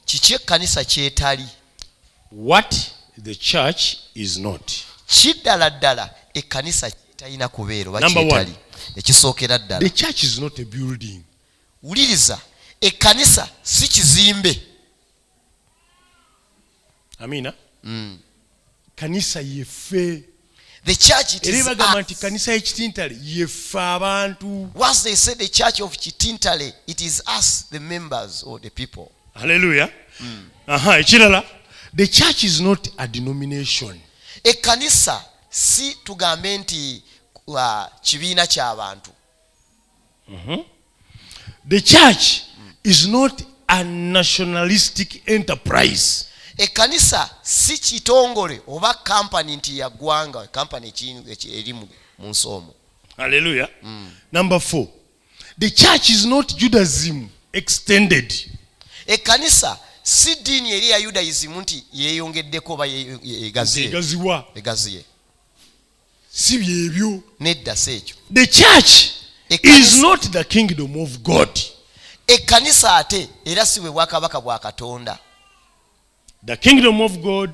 kiki ekkanisa kyetali what the church is not kiddala ddala ekkanisa kyetalina kubeera oba kyetali ekisookera ddala the church is not a building wuliriza ekkanisa si kizimbe amiina mm. kanisa yefe the church it is bagamba nti kanisa y'ekitintale yefe abantu once they say the church of kitintale it is us the members or the people hallelujah mm. aha ekirala the church is not a denomination ekanisa si tugambe nti uh, kibiina ky'abantu mm -hmm. the church is not a nationalistic enterprise ekkanisa si kitongole oba kampani nti yaggwanga kampani eri mu nsi omu alleluya mm. number four the church is not judaism extended ekkanisa si ddiini eri ya yudaisimu nti yeeyongeddeko oba egaziye si byebyo nedda si ekyo the church is not the kingdom of god ekkanisa ate era si bwe bwakabaka bwa katonda the kingdom of god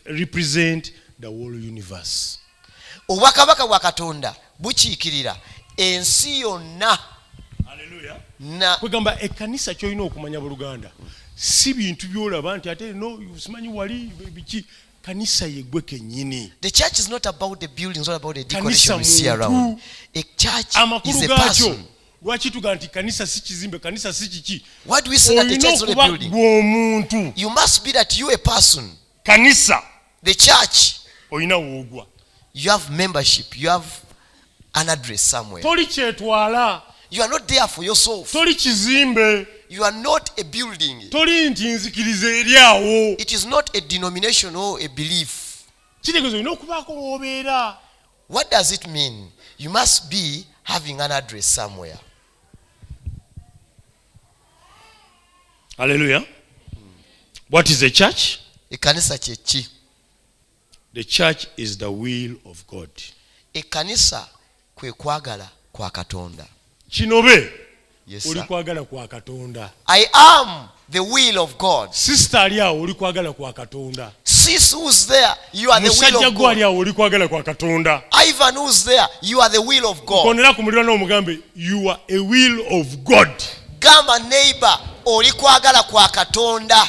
represent the whole universe obwakabaka bwa katonda bukiikirira ensi yonna kwegamba ekkanisa kyolina okumanya buluganda si bintu byolaba nti ate no simanyi wali biki kanisa yegwe kenyini the church is not about the building it's not about the decoration we see around a church is a person lwaki tuga nti kanisa si kizimbe kanisa si kiki olina okuba gwomuntu you must be that you a person kanisa the church olina woogwa you have membership you have an address somewhere. toli kyetwala You are not there for yourself. toli kizimbe You are not a building. toli nti nzikiriza eri awo It is not a denomination or a belief. kitegeeza olina okubaako w'obeera What does it mean? You must be having an address somewhere. haleluya what is a church Ekanisa kyeki? The church is the will of God. Ekkanisa kwe kwagala kwa Katonda. Kinobe yes, oli kwagala kwa Katonda. I am the will of God. Sister ali awo oli kwagala kwa Katonda. Sis who's there, you are the will of God. Musajja gwe ali awo oli kwagala kwa Katonda. Ivan who's there, you are the will of God. Konera ku mulirano omugambe you are a will of God. Gamba neighbor oli kwagala kwa Katonda.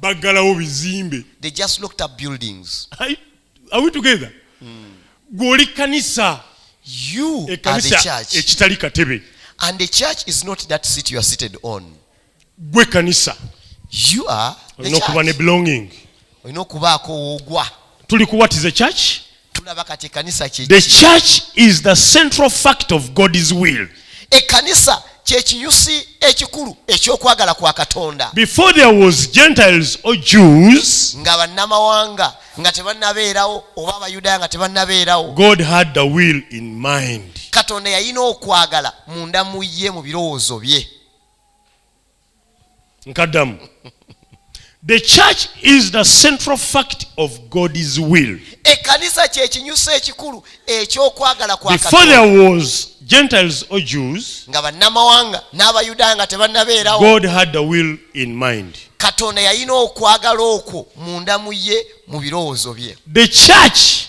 baggalawo bizimbe they just looked up buildings I, are we together mm. gwoli kanisa you e are the church ekitali katebe and the church is not that seat you are seated on gwe kanisa you are the church olina okuba ne belonging olina okubaako woogwa tuli ku what is the church the church is the central fact of god's will ekanisa kyekiyusi ekikulu ekyokwagala kwa katonda before there was gentiles or jews nga bannamawanga nga tebanabeerawo oba abayudaaya nga tebanabeerawo god had the will in mind katonda yalina okwagala munda mu ye mu birowoozo bye nkaddamu the church is the central fact of god's will ekkanisa kyekinyusa ekikulu ekyokwagala before there was gentiles or jews nga bannamawanga n'abayudaaya nga tebannabeerawo god had the will in mind katonda yalina okwagala okwo munda mu ye mu birowoozo bye the church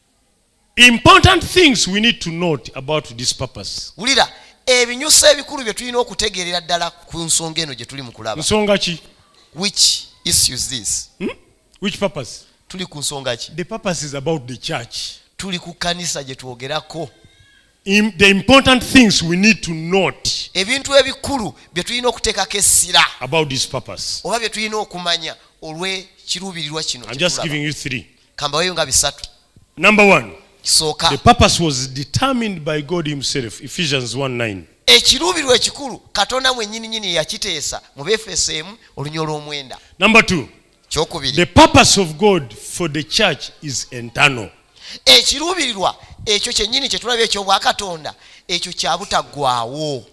Important things we need to note about this purpose. Wulira ebinyuso ebikulu bye tulina okutegeerera ddala ku nsonga eno gye tuli mu kulaba. Nsonga ki? Which issues this? Hmm? Which purpose? Tuli ku nsonga ki? The purpose is about the church. Tuli ku kanisa gye twogerako. Im, the important things we need to note ebintu ebikulu bye tulina okuteekako essira about this purpose oba bye tulina okumanya olw'ekiruubirirwa kino I'm just giving you three. kambaweyo nga bisatu number one kisooka the purpose was determined by god himself ephesians 19 ekiruubirwa ekikulu katonda mwenyini nyini yakiteesa mu befeso emu olunya olw'omwenda number two kyokubiri the purpose of god for the church is internal ekiruubirirwa ekyo kyennyini kyetulaba ekyobwakatonda ekyo kyabutaggwawo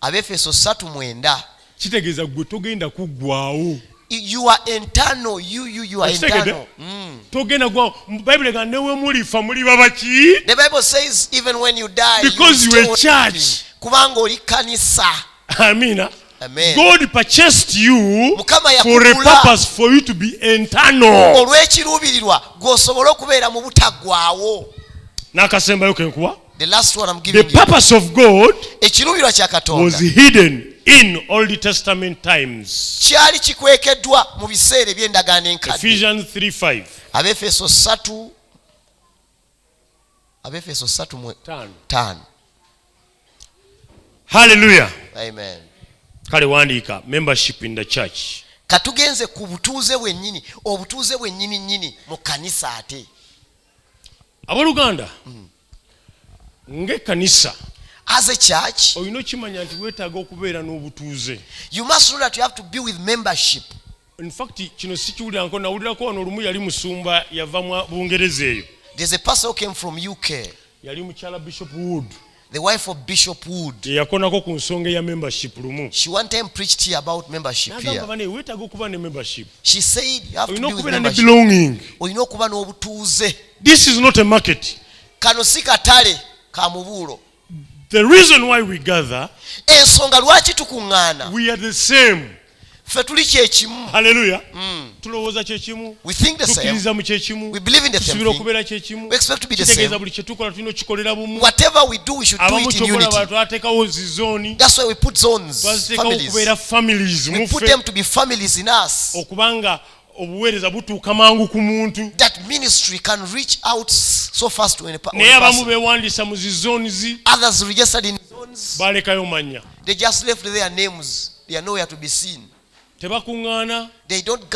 abefeso 39 kitegeeza gwe togenda kuggwawo you are internal you you you are internal mm. togenda gwa bible ga newe muli fa muli babaki the bible says even when you die because you, you a church kubanga oli kanisa amina Amen. God purchased you for a purpose for you to be internal. olw'ekiruubirirwa gw'osobola okubeera mu butaggwawo n'akasembayo kenkuwa The last one I'm giving the purpose you. of God ekiruubirwa kya katonda was hidden in old testament times kyali kikwekeddwa mu biseera eby'endagaano enkadde ephesians 3 5 abefeso 3 abefeso 3 mu 5 hallelujah amen kale wandiika membership in the church katugenze ku butuuze bwennyini obutuuze bwennyini nnyini mu kanisa ate aboluganda ng'ekkanisa as a church olina okimanya nti weetaaga okubeera n'obutuuze you must know that you have to be with membership in fact kino sikiwuliranko nawulirako wano olumu yali musumba yava mu bungereza eyo there's a person who came from uk yali mukyala bishop wood The wife of Bishop Wood. Eyakonako ku nsonga eya membership lumu. She one time preached here about membership here. Nagamba bane wetaga okuba ne membership. She said you have to be with membership. belonging. Olina okuba n'obutuuze. This is not a market. Kano si katale ka mubuulo. The reason why we gather. Ensonga lwaki tukuŋŋaana. We are the same. ffe tuli kyekimu haleluya mm. tulowooza kyekimu tukkiriza mu kyekimu tusuubira okubeera kyekimu kitegeeza buli kyetukola tulina okukikolera bumu abamu kyokola bantu ateekawo zi zooni twaziteekawo okubeera families muffe okubanga obuweereza butuuka mangu ku muntu naye abamu beewandiisa mu zi zones balekayo manya tebakuŋŋaana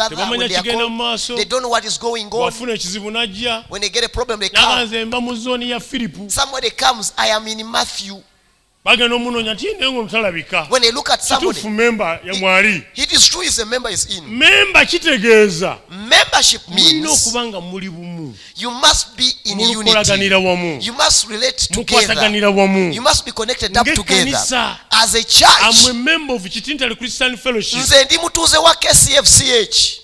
tebamanya kigenda mu maaso wafuna ekizibu n'ajja nabanze mba mu zooni ya firipu bagenda omunoonya nti naye ngono talabika kituufu memba mwali memba kitegeeza mulina okuba nga muli bumu mulukolaganira wamu mukwataganira wamu ng'ekkanisa amwe memba of kitintale christian fellowship nze ndi mutuuze wa kcfch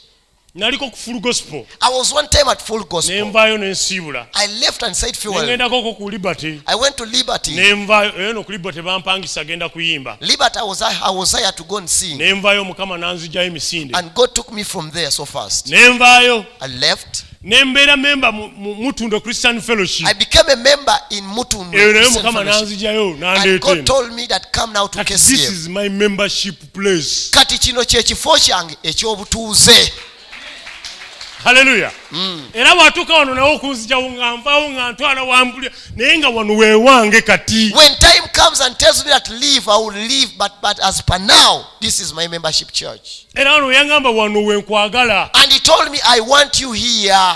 naliko ku full gospel i was one time at full gospel nemvayo nensiibula i left and said fuel ngendako ko ku liberty i went to liberty nemvayo eyo eh, no ku liberty bampangisa genda kuyimba liberty i was i was there to go and sing nemvayo mukama nanzija emisinde and god took me from there so fast nemvayo i left nembeera memba mutundo christian fellowship i became a member in mutundo eyo nayo mukama nanzijayo nandeeteeno god told me that come now to kcm this is my membership place. kati kino kyekifo kyange ekyobutuuze haleluya mm. era watuuka wano nawe okunzijawo nga nvawo nga ntwala wambulira naye nga wano wewange kati when time comes and tells me that leave i will leave but, but as per now this is my membership church era wano weyangamba wano wenkwagala and he told me i want you here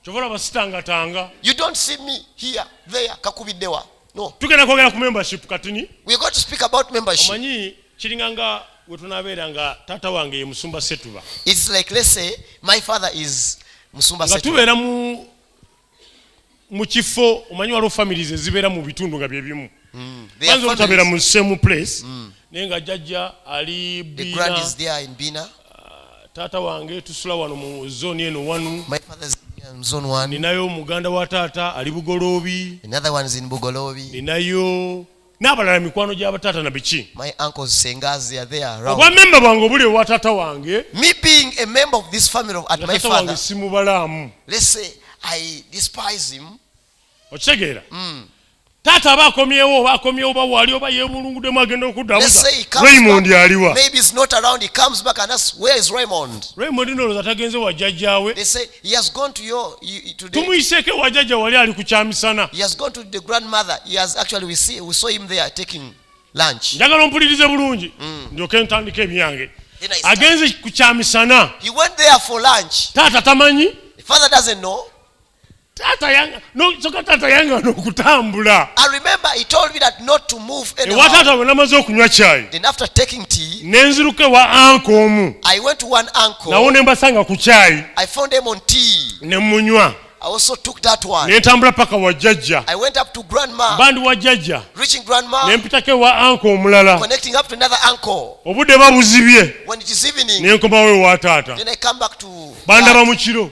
kyova olaba sitangatanga you don't see me here there kakubiddewa no tugenda kwogera ku membership katini we got to speak about membership omanyi kiringa nga we tunabeera nga taata wange ye musumba setuba its like let's say my father is musumba setuba tubeera mu mu kifo omanyi waliwo families ezibeera mu bitundu nga bye bimu mm. banza obutabeera mu same place mm. naye nga jajja ali bina taata wange tusula wano mu zoni eno wanu ninayo muganda wa taata ali bugoloobi ninayo n'abalala mikwano gya bataata na biki obwamemba bwange obuli ewa taata wange taata wange simubalaamu okitegeera mm. taata aba akomyewo oba akomyewo oba wali oba yebulunguddemu agenda okuddawozareymond aliwa reymond noloza tagenze wa jjajjawe tumuyiseeko ewa jjajja wali ali ku kyamisana njagala ompulirize bulungi mm. ndyoke ntandika ebyange agenze ku kyamisana taata tamanyi taata yanga nosoka taata yanga nokutambula i remember he told me that not to move ewa taata bwe namaze okunywa kyayi then after taking tea nenziruka ewa anko omu i went to one uncle nawo ne mbasanga ku kyayi i found them on tea ne munywa I also took that one. nentambula paka wa jajja I went up to grandma. bandi wa jajja Reaching grandma. nempitako ewa anko omulala Connecting up to another uncle. obudde babuzibye When it is evening, nenkomawo ewa taata then I come back to bandaba mu kiro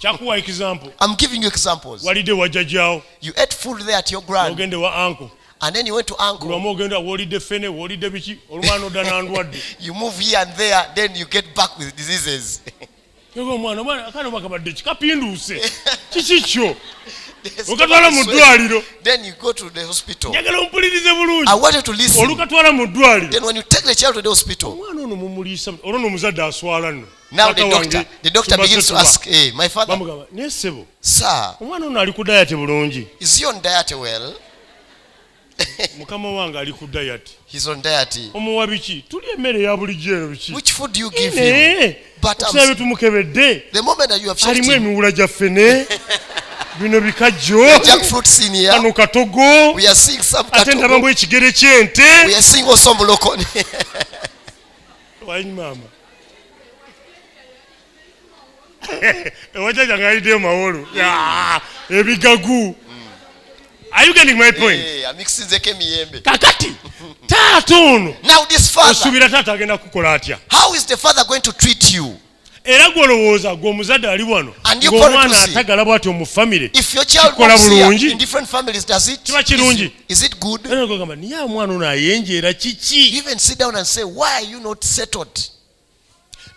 kyakuwa example i'm giving you examples walide wajajawo you ate food there at your grand ogende wa uncle and then you went to uncle lwamu ogenda wolide fene wolide biki olumana odda nandwadde you move here and there then you get back with diseases ego omwana omwana akana obakabadde kikapinduuse kiki kyo okatwala mu ddwaliro njagala ompulirize bulungi olukatwala mu ddwaliro omwana ono mumuliisa olwo nomuzadde aswala nno Now the doctor, the doctor begins to ask, hey, eh, my father, sir, omwana ono ali ku diet bulungi. Is he on diet well? mukama wange ali ku diet. He's on diet. Omuwa biki? Tuli emmere ya bulijjo eno biki? Which food do you give him? But I'm saying tumukebedde. The moment that you have checked him. Alimu emiwula gya fene. bino bikajjo kano katogo ate ndaba mbu ekigere ky'ente Wine mama. Ewajaja ngaideo mawolo. Yeah, ebigagu. Are you getting my point? Eh, amikisinzeko emiyembe. Kakati taata ono. Now this father. Osubira taata agenda kukola atya? How is the father going to treat you? era gwolowooza gwe omuzadde ali wano ngaomwana atagala bwati omu famire kikola bulungi kiba kirungi gamba naye omwana ono ayenjeera kiki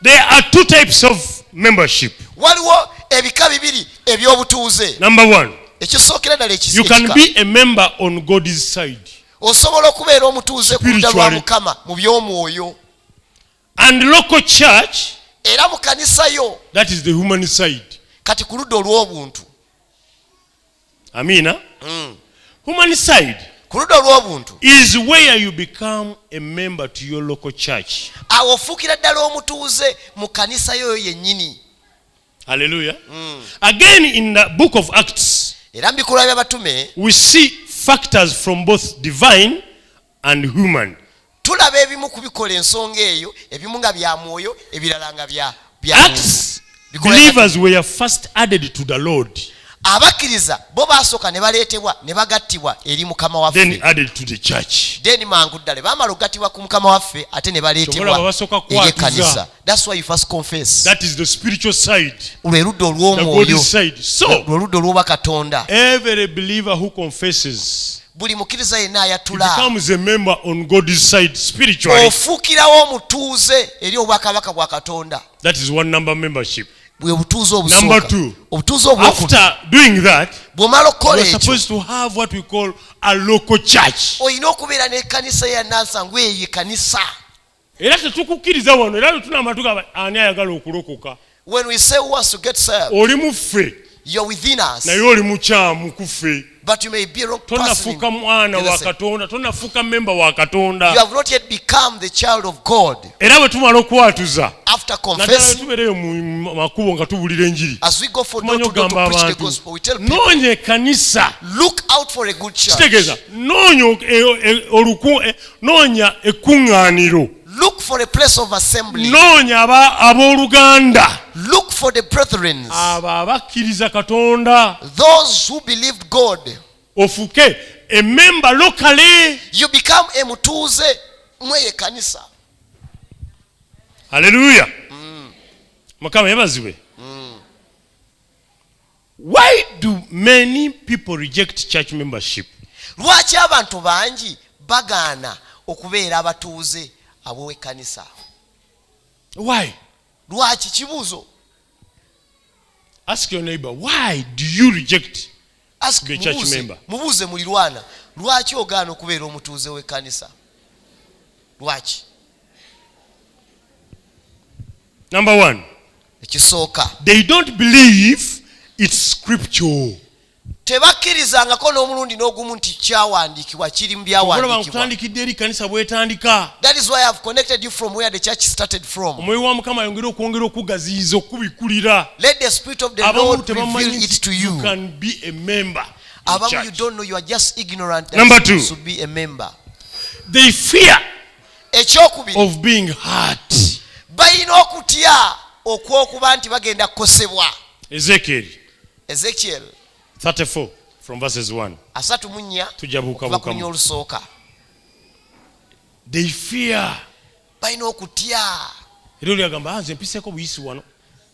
there are two types of membership waliwo ebika bibiri ebyobutuuze number one ekisookera ddala you can be a member on god's side osobola okubeera omutuuze ku lwa mukama mu by'omwoyo and local church era mu kanisa yo that is the human side kati ku ludda olw'obuntu amiina mm. human side ku ludda olw'obuntu is where you become a member to your local church awo ofuukira ddala omutuuze mu kanisa yoyo yennyini alleluya mm. again in the book of acts era mu bikolwa by'abatume we see factors from both divine and human tulaba ebimu kubikola ensonga eyo ebimu nga bya mwoyo ebirala nga bya abakkiriza bo baasooka ne baleetebwa ne bagattibwa eri mukama waffe then mangu ddala bamala okugattibwa ku mukama waffe ate ne baleetebwa eri ekkanisa That's why you first confess. That is the spiritual side. The God side. So, every believer who confesses buli mukkiriza yenna ayatulaofuukirawo omutuuze eri obwakabaka bwa katonda bwe butuuze obutuuze obw'omala okukola ekyo olina okubeera n'ekkanisa ya nansangu eyo ekanisa era tetukukkiriza wano era lwetunamba tugamba ani ayagala okulokoka oli muffe naye oli mukyamu kuffe tonafuuka mwana wa katonda tonafuuka memba wa katonda era bwe tumala okwatuza naddala tubeereyo mu makubo nga tubulira enjiri tumanya okugamba abantu noonya ekanisa kitegeeza noonya e- e- e- noonya ekkuŋŋaaniro Look for a place of assembly. noonya aba- abooluganda Look for the brethren. abo abakkiriza katonda Those who believed God. ofuke ememba lokale You become a mutuuze mweye kanisa. aleluya mukama yebazibwe Why do many people reject church membership? Lwaki abantu bangi bagaana okubeera abatuuze ab'ekkanisa? Why? Lwaki kibuuzo. Ask your neighbor, why do you reject Ask the church member? Mubuuze mulirwana, lwaki ogaana okubeera omutuuze w'ekkanisa? Lwaki? number one ekisooka they don't believe its scripture tebakkirizangako n'omulundi n'ogumu nti kyawandiikibwa kiri mu byawandiikibwakutandikidde eri kanisa bwetandika omwoyo wa mukama ayongere okwongera okugaziyiza okubikulira abamu tebamanyi Number two, they fear ekyokubiri balina okutya okwokuba nti bagenda kukosebwa ezekyeri ezekyeri 34 from verses 1 asatu mu nnya tujja buukabuukamu olusooka they fear balina okutya era oli agamba ah, nze mpiseeko buyisi wano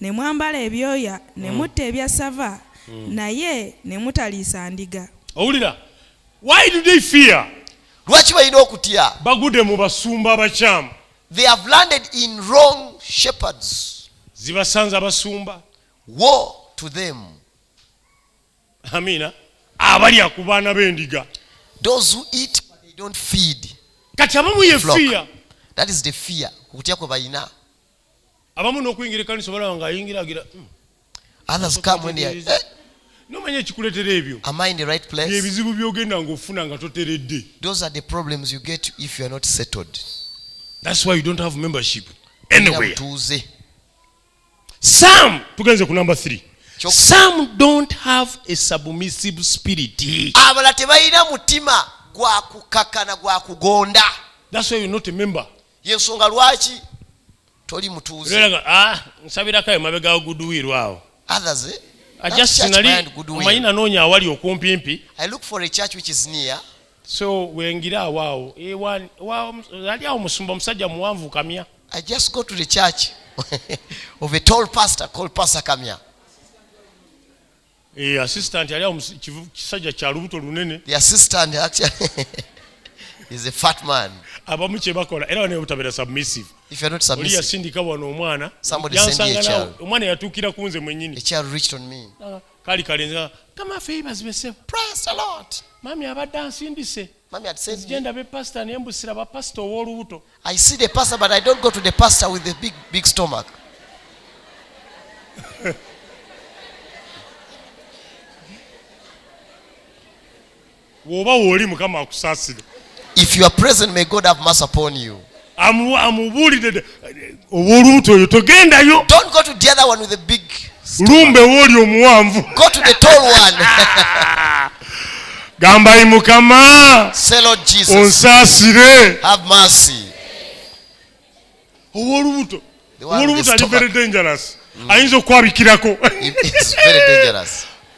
ne mwambala ebyoya, ne mutta ebyassava, naye ne mutaliisa ndiga. Owulira? Why do they fear? Lwaki balina okutya? Bagudde mu basumba abakyamu. They have landed in wrong shepherds. Zibasanze abasumba. Woe to them. Amina. Abalya ku baana b'endiga. Those who eat but they don't feed. Kati abamu ye fear. That is the fear. Okutya kwe balina. abamu n'okuyingira ekkanisa obalaba nga ayingira agira hmm. others come when they are eh? nomanya ekikuletera ebyo am i in the right place ebizibu byogenda nga ofuna nga toteredde those are the problems you get if you are not settled that's why you don't have membership anywhere tuuze some tugenze ku number 3 some don't have a submissive spirit abala tebalina mutima gwa kukakkana gwa kugonda that's why you're not a member yensonga lwaki toli mutuuze ah, nsabirako ayo mabega guduwiirwa awo others eh? omanyi nanoonya awali okumpimpi so wengira awaawo ali awo musumba omusajja muwanvu kamya i just go to the church of a tall pastor called pastor kamya Eh, assistant ali kisajja kya lubuto lunene the assistant actually is a fat man abamu kye bakola era bane butabera submissive if you're not submissive oli yasindika wano omwana somebody send you a child omwana yatukira kunze mwenyini a child reached on me ah, kali kali nza kama favors be save praise the lord mami abadde ansindise mami at send me genda be pastor ne mbusira ba pastor wolubuto I see the pastor but I don't go to the pastor with the big, big stomach. woba wooli mukama akusaasire if you are present may god have mercy upon you amubuulidde ow'olubuto oyo togendayo don't go to the other one with the big lumbe wooli omuwanvu go to the tall one gamba yi mukama onsaasire owolubuto owolubuto ali very dangerous mm. ayinza okukwabikirako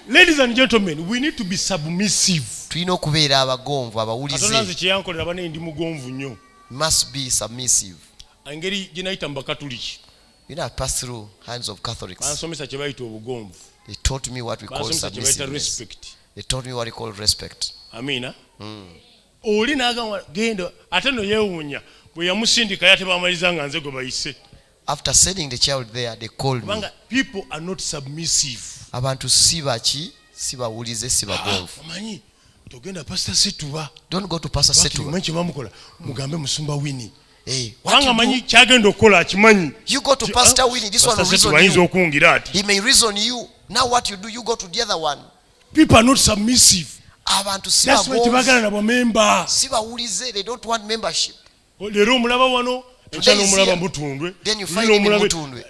ladies and gentlemen we need to be submissive tulina okubeera abagonvu abawulize kyeyankolera banaye ndi mugonvu nnyo must be submissive engeri gyenayita mu bakatuliki You know, I passed through hands of Catholics. bansomesa kye bayita obugonvu They taught me what we call bansomesa kye bayita submissiveness. respect They taught me what we call respect. amiina Hmm. oli nagamba genda ate no yeewuunya bwe yamusindika yate bamaliza nga nze gwe bayise After sending the child there, they called me. kubanga people are not submissive Abantu si baki, si bawulize, si bagonvu. Ah, omanyi togenda pastor situba don't go to pastor situba manyi kyebamukola mugambe musumba wini eh, kubanga manyi kyagenda okukola akimanyi you go to pastor ah, wini this one reason ayinza okungira ati he may reason you now what you do you go to the other one people are not submissive abantu sibagala na bamemba sibawulize they don't want membership oh, leero omulaba wano ekyalo omulaba mutundwe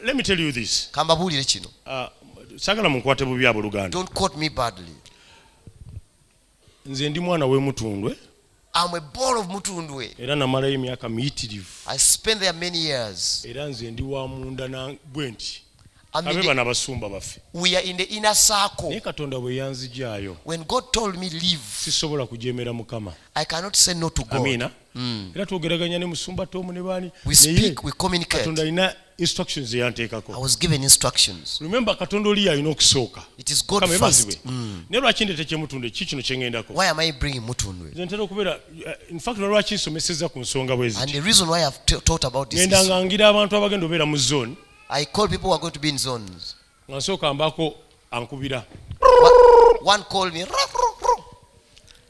let me tell you this kambabuulire kino ah, sagala munkwate bubi aboluganda don't quote me badly nze ndi mwana we mutundwe I'm a ball of mutundwe era namalayo emyaka miyitirivu I spent there many years era nze ndi wa munda na bwe nti abe bana basumba baffe we are in the inner circle naye katonda bwe yanzijaayo when God told me leave sisobola kujemera mukama I cannot say no to God Amina. mm. era twogeraganya ne musumba tomu ne baani katonda alina instructions eyanteekako remember katonda oli yalina okusooka mm. naye lwaki ndete kyemutundwe ki kino kyeŋendako ntera okubeera uh, infact nalwaki nsomeseza ku nsonga bweziŋenda ngangira abantu abagenda obeera mu zone I call people who are going to be in zones. nga nsooka mbaako ankubira one call me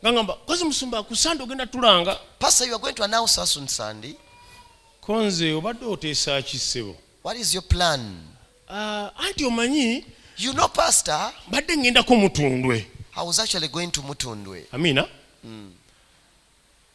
ngangamba kozi musumba ku sande ogenda tulanga pastor you are going to announce us on sunday konze obadde oteesa ki ssebo what is your plan uh, anti omanyi you know pastor mbadde ngendako mutundwe i was actually going to mutundwe amina mm.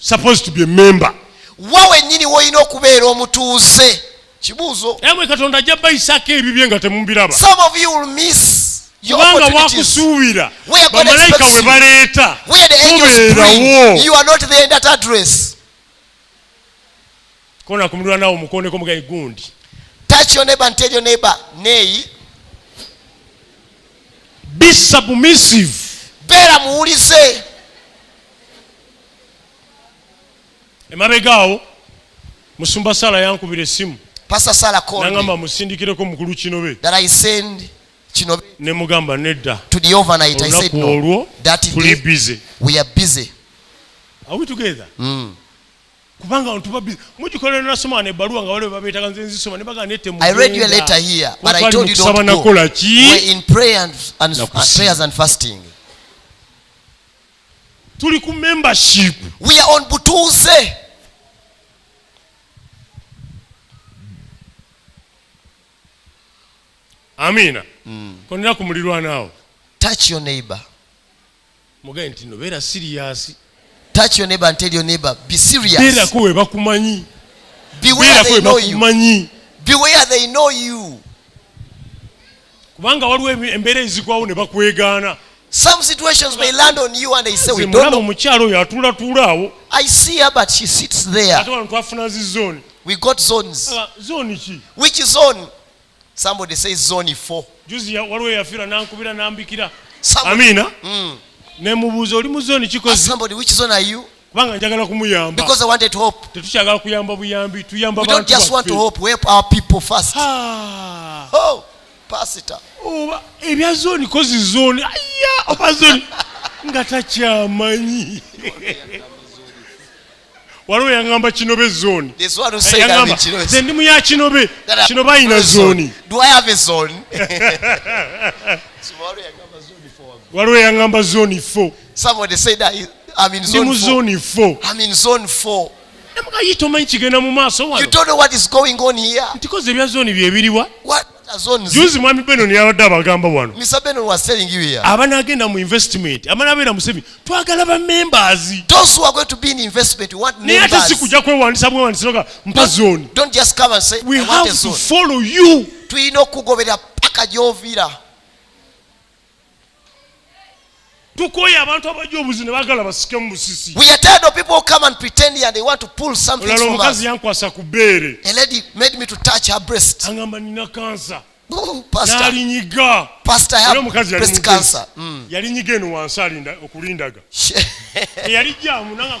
supposed to be a member wa wenyini wolina okubeera omutuuze kibuuzo emwe katonda ajja bayisako ebibye nga temubiraba some of you will miss kubanga wakusuubira bamalayika we baleeta mubeerawo Kona kumulwa nawo mukone ko mugaye gundi. Touch your neighbor and tell your neighbor neyi. Be submissive. Bera muwulize. Emabegaawo musumba Sala yankubira essimu. Pastor Sala called. Nangamba musindikireko mukulu Kinobe. That I send Kinobe. Ne mugamba nedda. To the overnight I said no. That is busy. We are busy. Are we together? Mm. kubanga abantu babi mugikolera nasoma ne baluwa nga wale babetaga nze nzisoma ne bagane temu I read your letter here but I told you don't go nakola ki we in prayer and, and uh, prayers and fasting tuli ku membership we are on butuze amina mm. konera ku mulirwana awo touch your neighbor Mugaye nti no beera serious. Touch your neighbor and tell your neighbor be serious. Beera ko webakumanyi. Beware they know you. Beware they know you. Kubanga waliwo embeera ezigwawo ne bakwegaana. Some situations may land on you and they say we don't know. Omukyalo yatula tula awo. I see her but she sits there. Ate wano twafuna zi zone. We got zones. Uh, zone ki? Which zone? Somebody say zone 4. Juzi ya waliwo yafira nankubira nambikira. Amina. Mm. Ne mubuzo oli mu zone kikozi. Ask somebody which zone are you? Kubanga njagala kumuyamba. Because I wanted hope. Tetukyagala kuyamba buyambi, tuyamba abantu. We don't just want to hope, we help our people first. Ah. Oh, pastor. Oh, ebya zone kozi zone. Aya, oba zone. Nga takyamanyi. waliwo yangamba kinobe zoni nze ndi muya kinobe kinobe ayina zoni waliwo yangamba zoni fo ndi mu zoni fo namugayi tomanyi kigenda mu maaso wano ntikoze ebya zoni byebiriwa juzi mwami benon yabadde abagamba wano abanagenda mu investment abanabeera museveni twagala bamembers naye ate sikuja kwewandisa bwewandisanoga mpa zoni tulina okukugoberera paka gyovira tukoye abantu abajja obuzi ne bagala basike mu busisi we are tired of people who come and pretend and they want to pull something from us omukazi yankwasa ku beere a lady made me to touch her breast angamba nina kansa nalinyiga omukazi mm. yalinyiga eno wansi alinda okulindaga eyali jamu nanga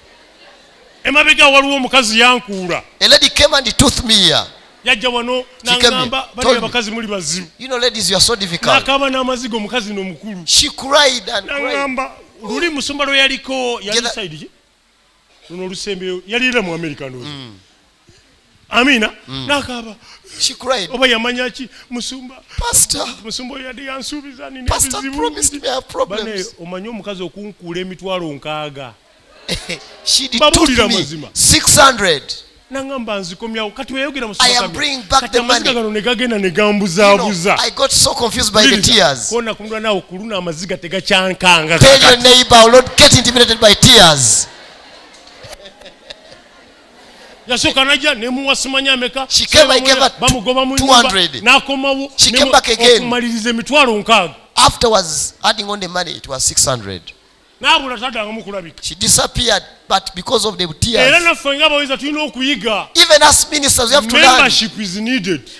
emabega waliwo omukazi yankuula a lady came and tooth me here yajja wano nangamba bali abakazi muli bazibu you know ladies you are so difficult nakaba namazigo omukazi no mukulu she cried and nangamba luli musumba lwe yaliko yali side ki luno olusembeyo yalira mu america ndozi mm. amina mm. nakaba she cried oba yamanya ki musumba pastor musumba oyo yadde yansuubiza nina pastor promised me have problems bane omanyi omukazi okunkuula emitwalo nkaaga she detook me 600 nangamba nzikomyawo kati weyogera musakamagano negagenda negambuzaabuza kona kumulwa nawe kuluna amaziga tegakyankanga yasooka najja nemuwa simanya ameka bamugoba mu nyumba n'akomawo okumaliriza emitwalo nkaaga afterwards adding on the money it was 600 n'abula taddangamu kulabika she disappeared but because of the tears era naffe nga abaweereza tulina okuyiga even as ministers we have to learn membership is needed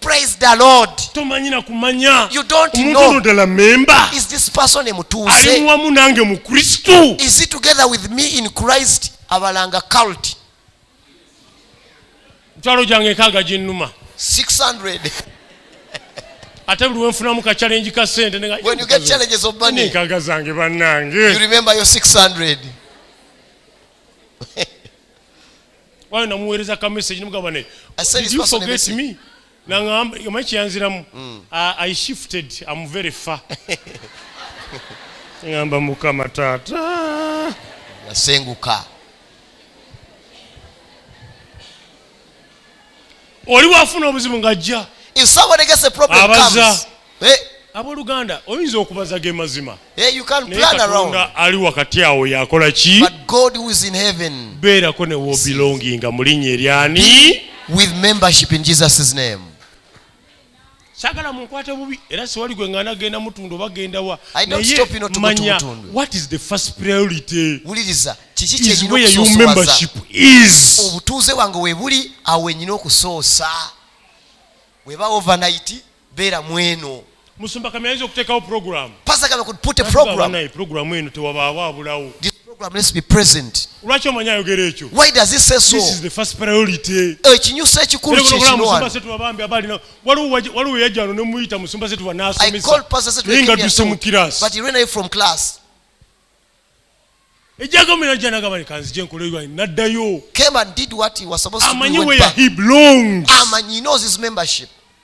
Praise the Lord. tomanyi na kumanya You don't omuntu know. ono ddala memba Is this person a ali mutuuze? muwamu nange mu kristo Is he together with me in Christ? Abalanga cult. mitwalo gyange enkaaga ginnuma 600. ate buli wenfunamu ka challenge ka sente ne nga- When you get challenges of money, enkaaga zange you bannange remember your 600. wano namuweereza ka message nimugamba ne did you forget me nangamba omanyi kiyanziramu mm. i shifted am very far ngamba mukama taata yasenguka oli wafuna obuzibu ng'ajja If somebody gets a problem, Abaza. comes. Hey, abooluganda oyinza okubaza ge mazima hey, you can naye plan around. katonda ali wakati awo yakola ki But God who is in heaven beerako ne wobilonginga mu linnya eryani with membership in Jesus' name. sagala munkwate bubi era siwali gwe ngana genda mutundu oba genda wa nayemanya what is the first priority wuliriza kiki kyenyinaokusosowazaobutuuze obutuuze wange webuli awo wenyina okusoosa weba overnight beera mweno musumba kami ayinza okuteekawo programu pastor kami could put a program program eno tewabaawo abulawo this program let's be present lwaki omanyi ayogera ekyo why does he say so this is the first priority ekinyusa ekikulu kyekinowanomusumbasetubabambi abalina waliwo yajja wano nemuyita musumba setuba nasomesaye nga duse mu class but he ran away from class ejagamira janagaba kanzije nkoleyo naddayo amanyi where he belongs amanyi knows his membership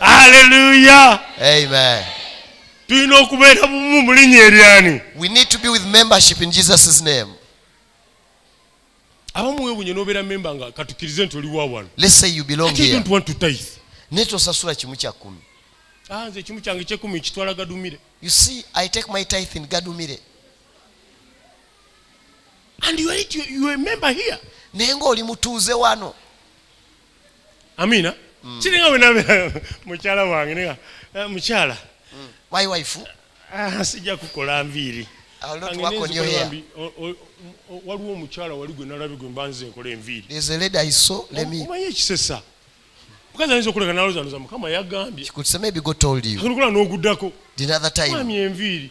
aleluya amen tulina okubeera bumu mu linnya eryani we need to be with membership in jesus' name abamu wewunye nobeera memba nga katukirize nti oliwa wano let's say you belong here don't want to tithe naye tosasula kimu kya kumi ah nze kimu kyange kyekumi kitwala gadumire you see i take my tithe in gadumire and you are, it, you, you are a member here naye nga oli mutuuze wano amina mm. kiringa wenabeera mukyala wange nega eh, mukyala mm. my wife ah, sijja kukola nviiri waliwo omukyala wali gwe nalabi gwe mbanze nkola enviirimanyi ekisesa mukazi ayinza okuleka nalozanuza mukama yagambye n'oguddako enviiri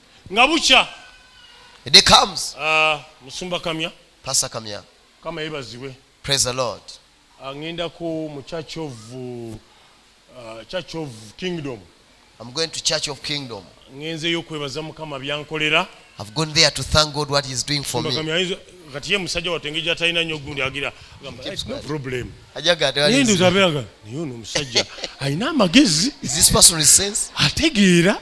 nga bukya A day comes. Uh, musumba kamya pasa kamya kama yebazibwe praise the lord angenda ah, ku mu church of uh, church of kingdom i'm going to church of kingdom ngenzeyo okwebaza mukama byankolera i've gone there to thank god what he's doing for me kati ye musajja watenge gyatalina nyo gundi agira no problem ajagatndozabeaga naye ono omusajja alina amagezi ategeera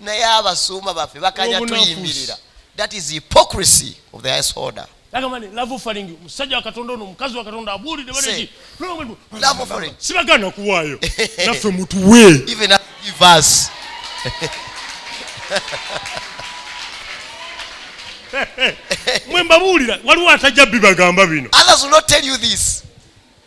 naye abasumba baffe bakanya tuyimirira that is hypocrisy of the highest order agamani love faringi musajja wa katonda ono mukazi wa katonda abuulidde baleki love faringi sibagana kuwaayo naffe mutuwe even us give us mwe mbabuulira waliwo atajja bibagamba bino others will not tell you this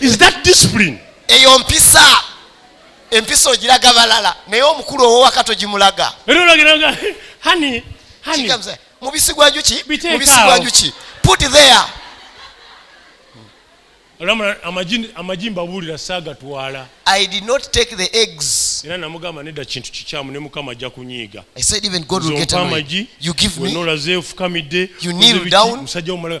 is that discipline eyo mpisa empisa ogiraga balala naye omukulu owowaka togimulaga mubisi gwa njuki mubisi gwa njuki put there amagi mbabuulira saagatwala i did not take the eggs era namugamba nedda kintu kikyamu ne mukama ajja kunyiiga i said even god will get amagi you give me nolaze ofukamidde you kneel down musajja omulala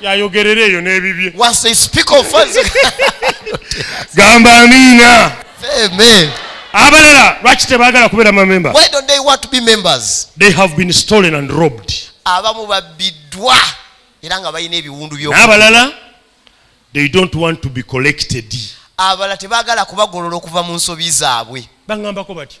yayogerera eyo n'ebibye was a speaker of funds gamba amiina amen abalala lwaki tebagala kubeera mamemba why don't they want to be members they have been stolen and robbed abamu babbiddwa era nga balina ebiwundu by'abalala they don't want to be collected abalala tebagala kubagolola okuva mu nsobi zaabwe baŋambako batyo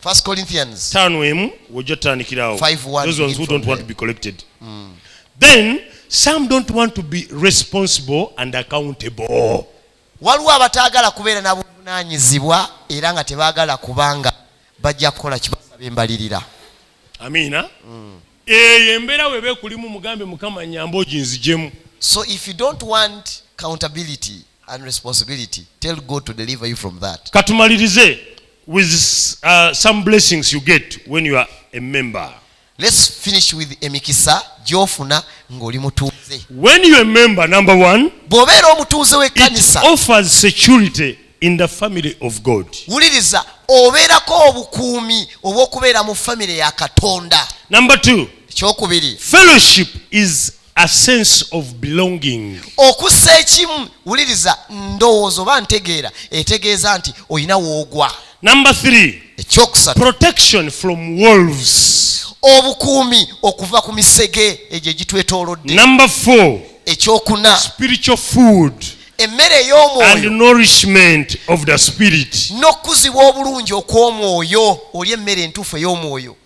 First Corinthians. Tano emu wojo tanikirawo. Five one. Those ones who don't want to be collected. Mm. Then some don't want to be responsible and accountable. Waliwo abataagala kubeera na buvunaanyizibwa era nga tebaagala kubanga bajja kukola kibasaba embalirira. Amiina. Mm. Eyo embeera weeba ekulimu mugambe Mukama nyamba oginzijemu. So if you don't want accountability. and responsibility tell God to deliver you from that katumalirize with uh, some blessings you get when you are a member let's finish with emikisa gyofuna ng'oli mutuuze when you are a member number one bw'obeera omutuuze w'ekkanisa offers security in the family of god wuliriza obeerako obukuumi obw'okubeera mu famire ya katonda number two ekyokubiri fellowship is A sense of belonging. okussa ekimu wuliriza ndowooza oba ntegeera etegeeza nti olina woogwa Number three, ekyokusatu protection from wolves. obukuumi okuva ku misege egyo egitwetoolodde Number four, ekyokuna spiritual food emmere and ey'omwoyo nourishment of the spirit. n'okukuzibwa obulungi okw'omwoyo olya emmere entuufu ey'omwoyo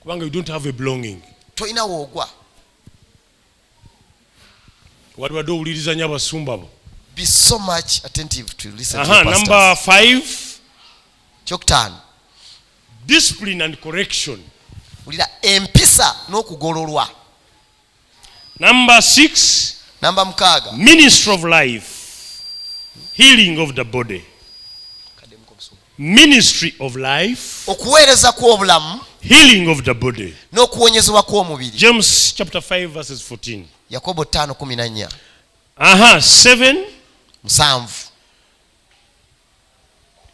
kubanga you don't have a belonging tolina woogwa waliwadde owulirizanya abasumba bo be so much attentive to listen uh -huh, to number five kyokutaano discipline and correction wulira empisa n'okugololwa Number six. Number mukaaga. Ministry of life. Healing of the body. Ministry of life. Okuweereza kw'obulamu. Healing of the body. N'okuwonyezebwa kw'omubiri. James chapter 5 verses 14. Yakobo 5:14. Aha, 7. Musanvu.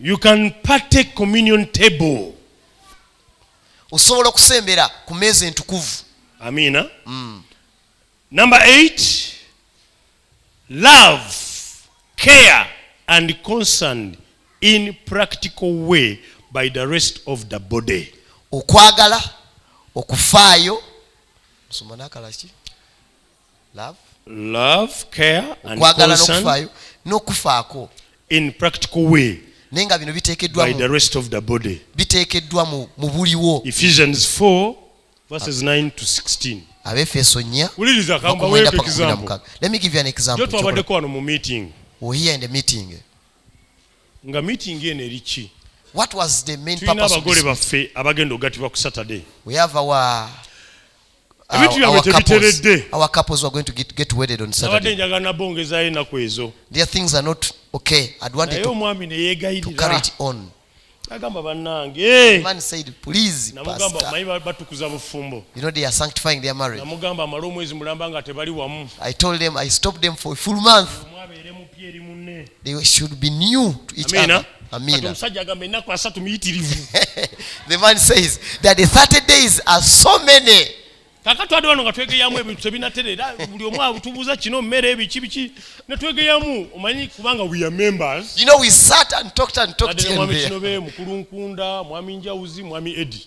You can partake communion table. osobola okusembera ku meeza entukuvu amiina mm. number 8 love care and concern in practical way by the rest of the body okwagala okufaayo musoma nakalaki love care and concern n'okufaako in practical way naye nga bino biteekeddwa by the rest of the body biteekeddwa mu buliwo ephesians 4 verses 9 to 16 abefeso nnya wuliriza kambaweeko example let me give you an example jo twabaddeko wano mu meeting we here in the meeting nga meeting eno eri ki what was the main purpose tulina abagole baffe abagenda okugatibwa ku saturday we have our ebintu byabwe tebiteredde abadde njagala nabo ngezayo enaku ezo naye omwami neyegayirira agamba banange batukuza bufumbo namugamba amale omwezi mulamba nga tebali wamu omwabeere mupya eri munne they should be new to each Amina. other Amina. the man says that the 30 days are so many kakati twade wano nga twegeyamu ebintu tebinatera era buli omu atubuuza kino mmere ebiki biki netwegeyamu omanyi kubanga we are members you know we sat and talked and talked mwami kinobe mukulu nkunda mwami njawuzi mwami edi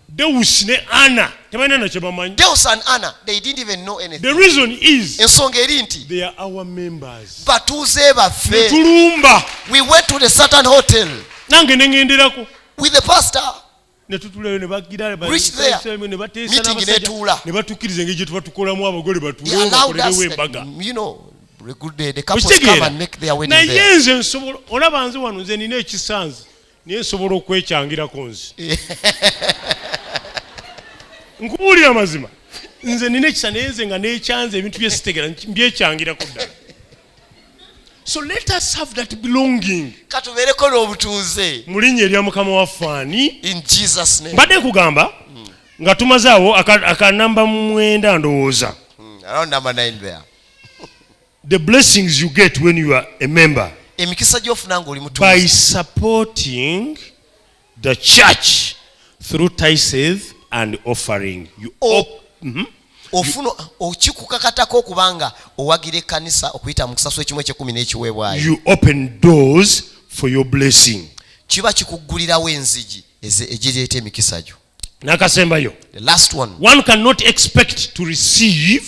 Deus ne Anna tebalina na kyebamanyi. Deus and Anna they didn't even know anything. The reason is ensonga eri nti they are our members. Batuuze baffe. Tulumba. We went to the certain hotel. Nange nengenderako. With the pastor. netutulayo nebagiranebatuukiriza engeri gyetuba tukolamu abagole batuleobakolerewo embaga naye nze nsobola olaba nze wano nze nina ekisanzi naye nsobola okwekyangirako nze nkubuulira amazima nze nina ekisa naye nze nga nekyanze ebintu byesitegera mbyekyangirako ddala so let us have that belonging katubeereko n'obutuuze mu linnya erya mukama waffe ani in jesus name mbadde nkugamba hmm. nga tumazaawo akanamba mwenda ndowooza hmm, around number 9 there The blessings you get when you are a member. Emikisa gyofuna ngoli mutu. By supporting the church through tithes and offering. You oh. op mm -hmm. ofuna okikukakatako okubanga owagira ekkanisa okuyita mu kusasula ekimu ekyekumi n'ekiweebwayo you open doors for your blessing kiba kikuggulirawo enzigi egireeta emikisa gyo nakasembayo the last one one cannot expect to receive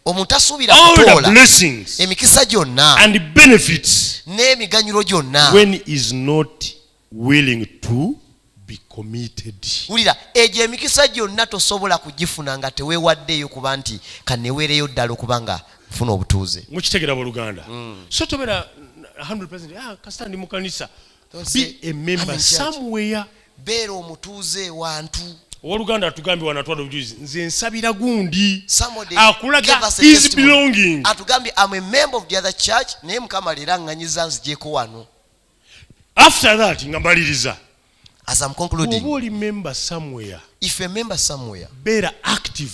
omuntu asuubira kutoola emikisa gyonna and benefits n'emiganyulo gyonna when is not willing to be committed wulira egyo emikisa gyonna tosobola kugifuna nga teweewaddeeyo kuba nti kaneweereyo ddala okuba nga funa obutuuze mukitegera boluganda mm. so tobera 100 ah, kasita ndi mukanisa be a member somewhere beera omutuuze wantu owoluganda atugambye wanatwala obujulizi nze nsabira gundi akulaga his belonging atugambye am a member of the other church naye mukama leero aŋŋanyiza nzijeko wano after that nga mbaliriza as am concluding oba oli member somewhere if a member somewhere beera active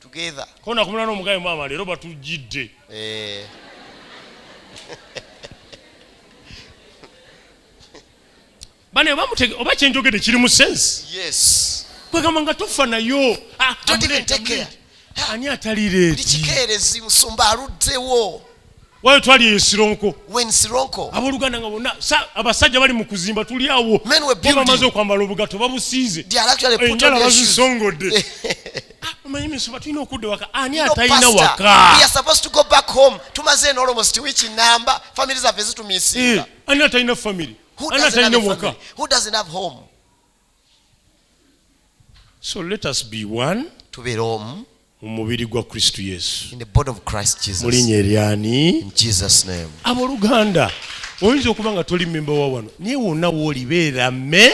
together ko nakumula no mugaye mama lero batujidde eh bane bamutege oba kyenjogede kiri mu sense yes kwegamba nga tofa nayo ah, ani atalireti kikeerezi musumba aluddewo wali twali eyo sironko abooluganda nga bonna abasajja bali mu kuzimba tuli awo bamaze okwambala obugato babusiize enjala bazisongodde ah, omanyi misoba tulina okudda waka ani atalina wakatumaze nolomost wiki namba famiry zaffe zitumisinga eh, ani atalina famiry ani atalina waka so let us be one tubeere omu mu mubiri gwa kristo yesu mu linnya eryani abooluganda oyinza okuba nga toli memba wa wano naye wonna wooli beera me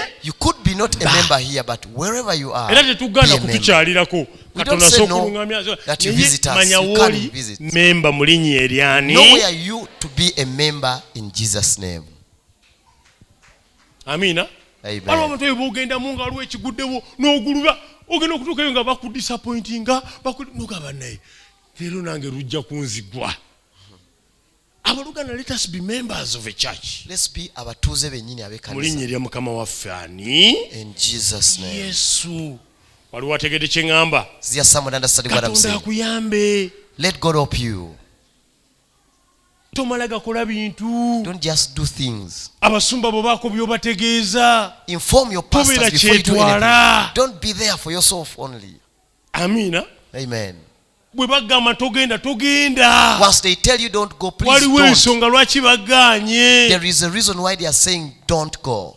era tetugaana kutukyalirako katonda asooka oluŋamya manya wooli memba mu linnya eryani amiina waliwo abantu ebyo bogendamu nga waliwo ekiguddewo n'oguluba ogenda okutuukayo nga bakudisapointinga nogamba naye leero nange lujja kunzigwa abaluganda let us be members of a church let's be abatuuze benyini abekanisa mulinnya erya mukama waffe ani in jesus name yesu waliwo ategedde kye ŋŋamba katonda akuyambe let god help you tomala gakola bintu don't just do things abasumba bo bako byobategeeza inform your pastors before you do anything don't be there for yourself only amina amen bwe bagamba togenda togenda once they tell you don't go please waliwo ensonga lwaki bagaanye there is a reason why they are saying don't go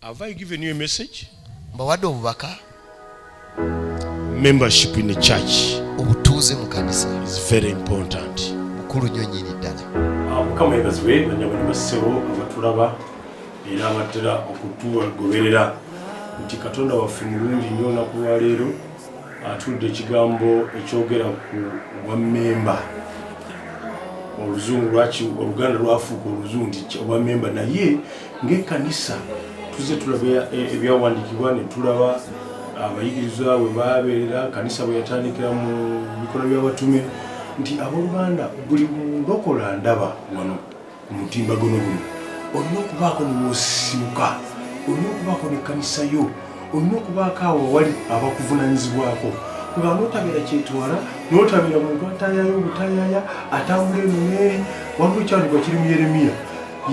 Have I given you a message? Mbawadde obubaka. Membership in the church. Obutuuze mu kanisa. Is very important. Mukulu nnyo nyini ddala. Ah, Mukama yebazibwe banyabo ne basebo abatulaba era abatera okutugoberera nti Katonda waffe mulungi nnyo olunaku lwa leero atudde ekigambo ekyogera ku bwa memba oluzungu lwaki oluganda lwafuuka oluzungu nti obwa memba naye ng'ekkanisa tuzze tulaba e-, ebyawandiikibwa ne tulaba abayigirizwa bwe baabeera kanisa bwe yatandikira mu bikola by'abatume nti abooluganda buli mulokola ndaba wano ku mutimbagano guno olina okubaako newosibuka olina okubaako nekkanisa yo olina okubaako awo wali abakuvunanyizibwako nga notabeera kyetwala notabeera muntu atayaya obutayaya atambula eno neeri waliwo ekyandikwa kiri mu yeremiya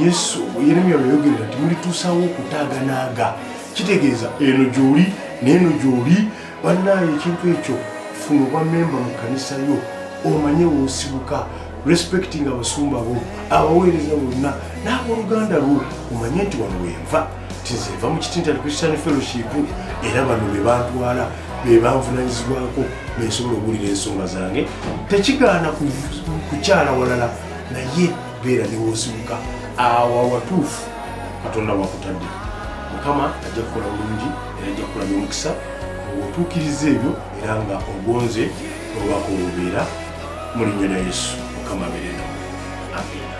yesu yeremya weyogerera nti mulituusawo okutaaganaaga kitegeeza eno gyoli neeno gyoli bannaayo ekintu ekyo funa obwa memba mu kkanisa yo omanye wosibuka respecting abasumba bo abaweereza bonna n'aboluganda lwo omanye nti wano wenva tinzenva mu kitintali christian fellowship era bano be bantwala be banvunanyizibwako bensobola okuwulira ensonga zange tekigaana kukyala walala naye beera newosibuka awo awatuufu katonda wakutadde mukama ajja kukola bulungi era ajja kukola nomukisa otuukiriza ebyo era nga ogonze obubaka obubeera mulinnya na yesu mukama beerena amina